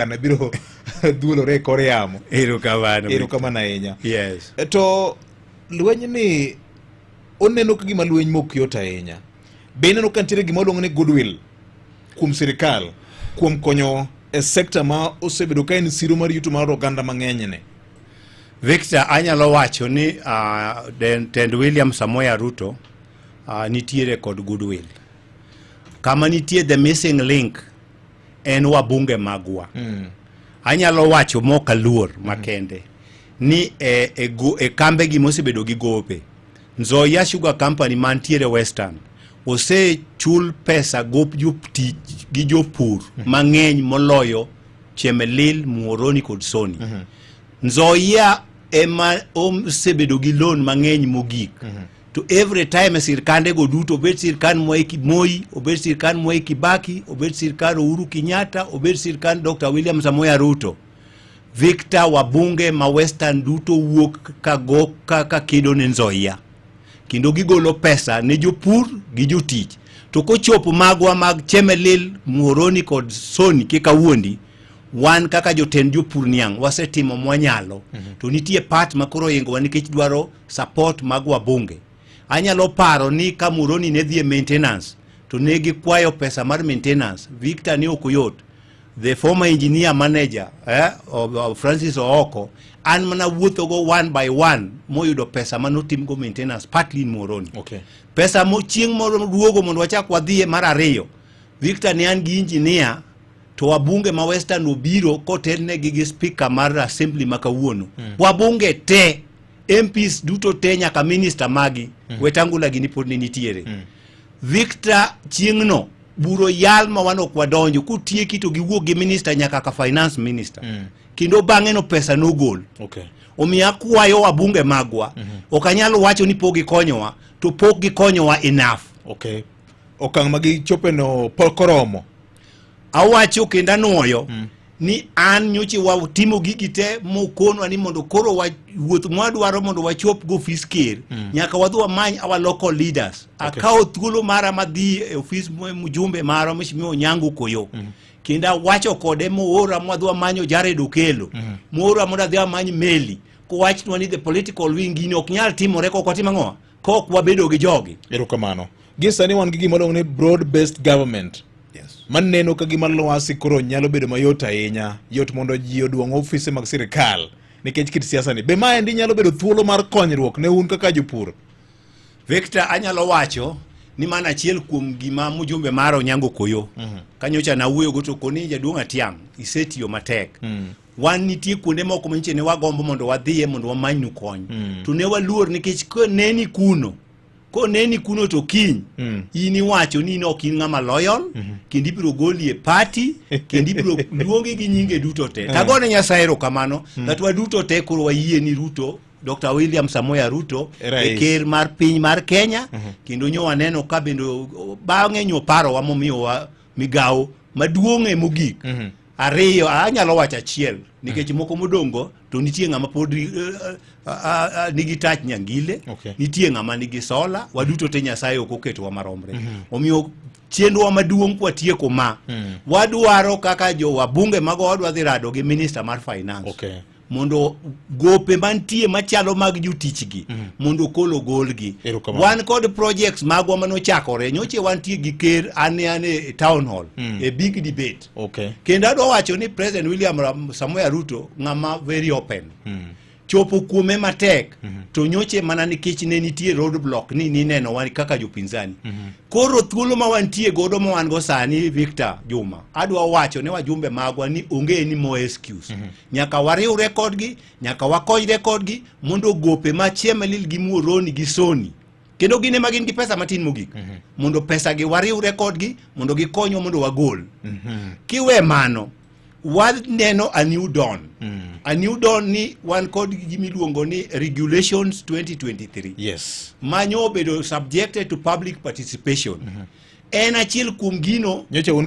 an abiro dhuolore e kor yamo erokamano erokamano ahinya yes e, to lweny ni oneno ka gima lweny mok yot ahinya be ineno ka nitiere gima oluongo ni goodwill kuom sirikal kuom konyo e sekta ma osebedo ka en siro mar yuto mar oganda mang'enyne victor anyalo wacho ni uh, tend william samoya ruto uh, nitiere kod goodwill kama nitie the missing link en wabunge magwa mm. anyalo wacho mok aluor mm. makende ni e, e, go, e kambegi mosebedo gi gope Nzoia Sugar Company mantiere Western osechul pesa gop jotich gi jopur mm. mang'eny moloyo Chemelil, Muoroni kod Soni mm -hmm. Nzoia ema osebedo gi loan mang'eny mogik mm -hmm to every time sirkande go duto obed sirkand Mwai Moi, obed sirkand Mwai Kibaki, obed sirkand Uhuru Kenyatta, obed sirkand Dr. William Samoei Ruto. Victor wabunge ma Western duto wuok ka go ka, ka kedo ne Nzoia kendo gigolo pesa ne jopur gi jotich to kochopo magwa mag Chemelil, Muhoroni kod Soni kika wuondi wan kaka jotend jopur niang' wasetimo mwanyalo mm -hmm. to nitie part makoro ingowa nikech dwaro support mag wabunge. Anyalo paro ni ka Muroni ne dhie maintenance to ne gikwayo pesa mar maintenance. Victor ne ok yot. The former engineer manager eh, of, of Francis Ooko an mana wuothogo one by one moyudo pesa ma notimgo maintenance partly in Moroni. Okay. Pesa mo chieng' moro duogo mondo wachak wadhie mar ariyo. Victor ne an gi engineer to wabunge ma Western obiro kotelnegi gi speaker mar assembly ma kawuono mm. wabunge te MPs duto te nyaka minister magi mm. Wetangula gini pod ne nitiere mm. Victor chieng'no buro yal ma wan ok wadonjo kutieki to giwuok gi minister nyaka ka finance minister mm. kendo bang'e no pesa nogol okay. omiyo akwayo wabunge magwa mm -hmm. ok anyal wacho ni pok gikonyowa to pok gikonyowa enough okay. okang' ma gichopeno pok oromo Awacho kendo anwoyo mm. ni an nyoche watimo gigi te mokonwa ni mondo koro wuoth mwadwaro mondo wachop go ofis ker mm. nyaka wadhi wamany our local leaders okay. akawo thuolo mara madhi e ofis mjumbe mara mheshimiwa Onyango Koyo mm. kendo awacho kode moora mwadhi wamanyo Jared Okello mm. moora mondo adhi amany Meli kowachnwa ni the political wing gini ok nyal timore kok watim ang'o kok wabedo gi jogi. Erokamano. Gi sani wan gi gima ni broad based government. Yes. Man neno ka gima lwasi koro nyalo bedo mayot ahinya, yot mondo ji oduong ofise mag sirkal nikech kit siasa ni. Be ma endi nyalo bedo thuolo mar konyruok ne un kaka jopur? Victor anyalo wacho ni mana achiel kuom gima mujumbe mara Onyango Koyo mm -hmm. kanyocha nawuoyogo to koni jaduong' Atiang' isetiyo matek mm -hmm. wan nitie kuonde moko manyiche ne wagombo mondo wadhiye mondo wamanynu kony mm. to ne waluor nikech koneni kuno koneni kuno to kiny mm. in iwacho ni in ok in ng'ama loyal mm -hmm. kendo ibiro goli e pati kendo ibiro luongi gi nyinge duto te mm. tagone nyasaye erokamano mm. that waduto te koro wayie ni ruto Dr. William Samoya Ruto e ker mar piny mar Kenya mm -hmm. kendo nyo waneno ka bende bang'e nyo parowa momiyowa migawo maduong'e mogik mm -hmm. Ariyo, anyalo wacho achiel nikech moko modongo to nitie ng'ama pod eh, eh, nigi tach nyangile, okay. nitie ng'ama nigi sola, waduto te Nyasaye ok oketowa maromre. Mm -hmm. Omiyo chenrowa maduong' kwatieko ma, mm. wadwaro kaka jo wabunge mago wadwa dhi rado gi minister mar finance. Okay. mondo gope mantie machalo mag jotichgi mm. mondo kolo golgi wan kod projects magwa manochakore nyoche wantie gi ker ane ane e town hall mm. e big debate okay. kendo adwa wacho ni president william samoya ruto ng'ama very open mm. chopo kuome matek mm -hmm. to nyoche mana nikech ne nitie road block ni nineno wan kaka jopinzani mm -hmm. koro thuolo ma wantie godo ma wan go sani victor juma adwa wacho ne wajumbe magwa ni onge ni more excuse mm -hmm. nyaka wariwre kodgi nyaka wakonyre kodgi mondo gope ma chiemelil gi muoroni gi soni kendo gin ema gin gi pesa matin mogik mm -hmm. mondo pesa gi wariwre kodgi mondo gikonywa mondo wagol mm -hmm. kiwe mano waneno a new dawn mm. a new dawn ni wan kod gimiluongo ni regulations 2023 yes. manyo obedo subjected to public participation mm -hmm. en achiel kuom gino nyocha un